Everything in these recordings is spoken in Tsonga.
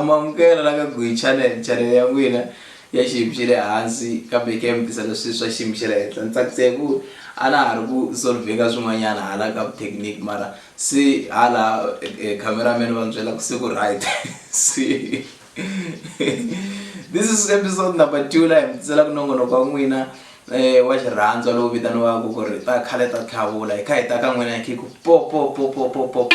mamukela la ka gwi channel channel ya n'wina ya xiyimo xa le hansi kambe yi kha yi mutisa leswi swa xiyimo xa le henhla ni tsakise hi ku a na ha ri ku solvheka swin'wanyana hala ka technique mara se hala eh, eh, cameraman va ni byela ku se ku right se this is episode number two laha hi mitisela ku nongonoko wa n'wina eh, wa xirhandzwa lowu vitaniwaka ku ri ta khale ta tlhavula hi kha hi ta ka n'wina hi khiku popopopopopo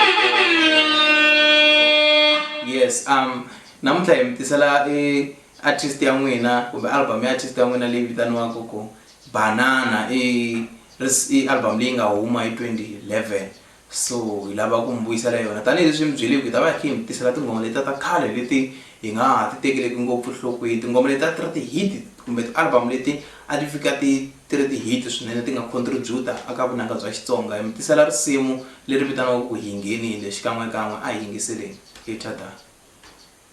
yes um namuntlha hi mitisela i artist ya n'wina kumbe album ya artist ya n'wina leyi vitaniwaka ku banana i album leyi nga huma hi 2011 so hi lava ku mi vuyisela yona tanihileswi mi byeliwi hi ta va hi khe hi mi tisela tinghoma letiya ta khale leti hi nga ha ti tekeleki ngopfu nhlokweni tinghoma letiya ti ri ti-hit kumbe ti-album leti a ti fika ti ti ri ti-hit swinene ti nga contribute-a aka vunanga bya xitsonga hi mi tisela risimu leri vitaniwaka ku hi nghenile xikan'wekan'we a hi yingiseleni hi tshadana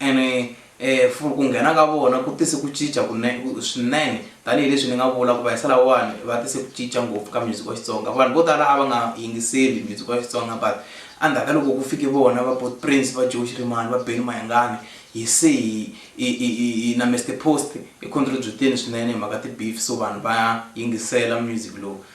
ene um ku nghena ka vona ku tise ku cinca swinene tanihileswi ni nga vula ku va hisa lawani va tise ku cinca ngopfu ka music wa xitsonga vanhu vo tala a va nga yingiseli music wa xitsonga but endzhaku ka loko ku fike vona va bot prince va joe xirimani va beni mayangani hi se hi na mr post hi contributeni swinene hi mhaka ti-beef so vanhu va yingisela music lowu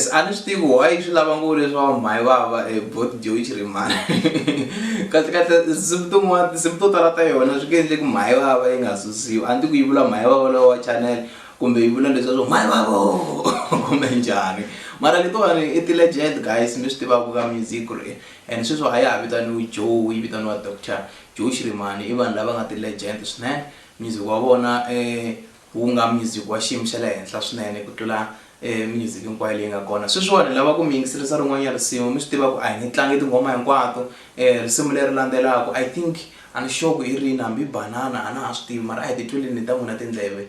yes a ni swi tivi why swi lava ngo leswaku mhayi va va e bot joyi chirimani kahlekahle tinsimu tin'wana tinsimu to tala ta yona swi nge endle ku mhayi va va yi nga susiwi a ni ti ku yi vula mhayi va valowa wa channel kumbe yi vula leswaku mhayi va vo kumbe njhani mara letiwani i ti-legend guys mi swi tivaka ka music ku ri And sweswi a ya ha vitaniwi Joe yi vitaniwa Doctor Joe Shirimani i vanhu lava nga ti legend swinene music wa vona wu nga music wa xiyimo xa le henhla swinene ku tlula music hinkwayo leyi nga kona sweswiwani lava ku mi yingiselisa rin'wanyana risimu mi swi tiva ku a hi nge tlangi tinghoma hinkwato risimu leri landzelaka I think a ni sure ku hi rini hambi banana a na ha swi tivi mara a hi ti tweleni ta n'wina tindleve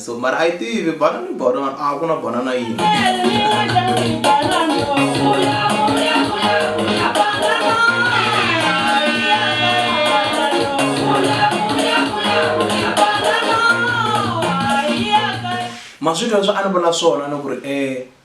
so mara a yi tivi bana ni banana a ku na banana yini ma swi twa swi a ni vula swona ni ku ri um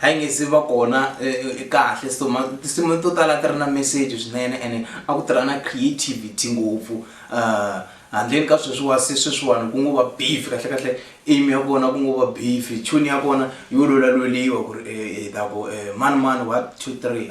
a yi nge se va kona kahle so tinsimu to tala ti ri na message swinene ene a ku tirha na creativity ngopfu um handleni ka sweswiwa se sweswiwani ku ngo va beef kahle kahle aim ya kona ku ngo va beef tune ya kona yo lwelalweliwa ku ri hi ta ku mani mani one two three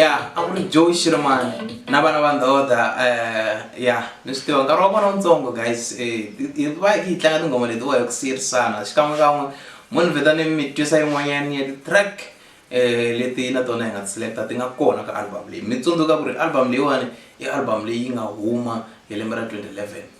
ya a ku ri joe shirmani na vana va ndhoda eh, ya mi swi tiva nkarhi wa kona wutsongo guys eh, hi va hi yi tlanga tinghoma leti wa hi ku siyerisana xikan'we kan'we mo ni vheta ni mi twisa yin'wanyani ya ti-track um leti na tona hi nga ti-selecta ti nga kona ka album leyi mi tsundzuka ku ri album leyiwani i album leyi nga huma hi lembe ra 2011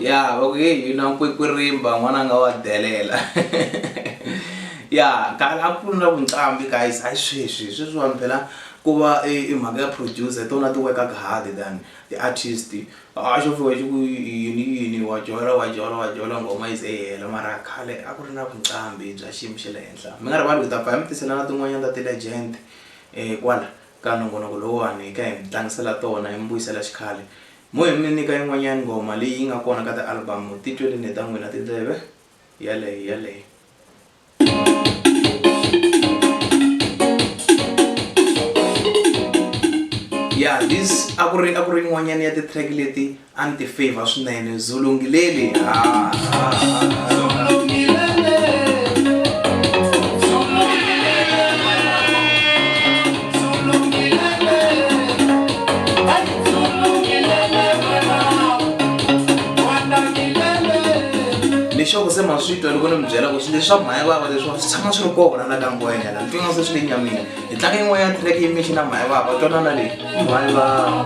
Ya va ku heyi yina nkwekwirimba n'wananga wa delela ya khale a ku ri na vuncambi guys a yi sweswi sweswiwani phela ku va i e, e mhaka ya producer tona ti workaka hard than ti-artist a xo fika xi ku yini yini wa jola wa jola wa jola nghoma yi ze yi hela mara khale a ku ri na vuncambi bya xiyimo xa le henhla mi nga rivali ku ta pfa hi mi tisela na tin'wanyana ta ti-legend um kwala ka nongonoko lowuwani hi ka hi mi tlangisela tona hi mi vuyisela xikhale Mo hi mi nyika yin'wanyani nghoma leyi yi nga kona ka ti-album-u ti tweli ni ta n'wina tindleve, yaleyo yaleyo. Ya this a ku ri a ku ri yin'wanyani ya ti-track leti a ni ti favour swinene Zulu Ngilele ha ha ha. lexi ku se ma swi twa loko ni mi byela ku swi leswi swa mhaya vava leswiwa swi tshama swi ri kona la ka ngwenya la ntwinga se swi le nyamini hi tlanga yin'wanyana track yi mixi na mhaya vava twanana leyi mhaya vava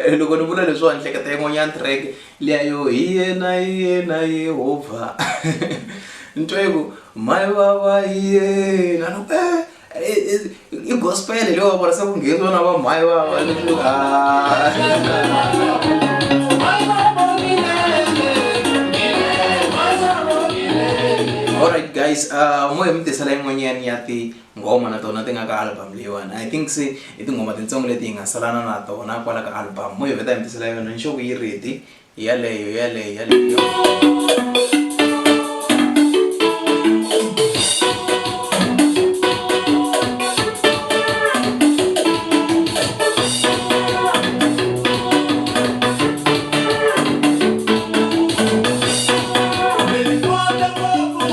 Eh, loko ni vula leswiwa ni hleketa yin'wanyana track Lia yo, Hi yena, hi yena Yehovha. Nitwa yi ku, Mhani vava hi yena. Ni ku, eh, i gospel leyi wa vona se ku ngheni vona va mhani vava. Ni ku, ah. alright guys uh, moya mi tisela yin'wanyani ya ti nghoma na tona ti nga ka album leyiwani i think se i tinghoma tintsongo leti hi nga salana na tona kwala ka album mo hi vheta hi mi tisela yona ni xoku yi ready hi yaleyo hi yaleyo hi yaleyo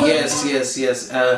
yes yes yes uh,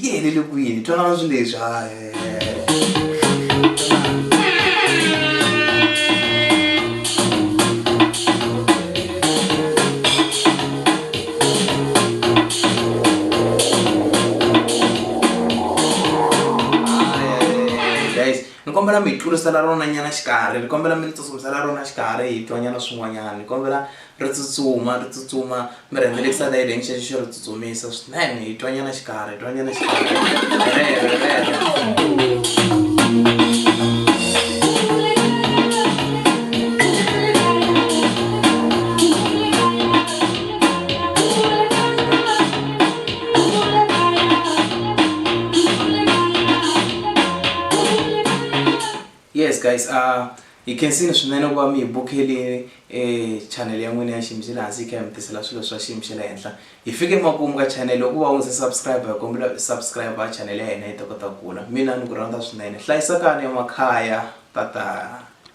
yi helele kwini twanana swi leswi kombela mi hi tlurisela rona nyana xikarhi ni kombela mi ni tsutsumisela rona xikarhi hi twanyana swin'wanyana ni kombela Ri tsutsuma, ri tsutsuma, mi rhendzelekisa na yini xexo xo ri tsutsumisa swinene, hi twa nyana xikarhi, hi twa nyana Yes guys, uh, hi khensini swinene ku va mi hi bukeli e channel ya n'wina ya xiyimo xa le hansi yi kha hi mi tisela swilo swa xiyimo xa le henhla hi fike emakumu ka channel loko va u ndzi subscribe hi kombela u subscribe a channel ya hina yi ta kota ku kula mina ni ku rhandza swinene hlayisakani emakhaya tata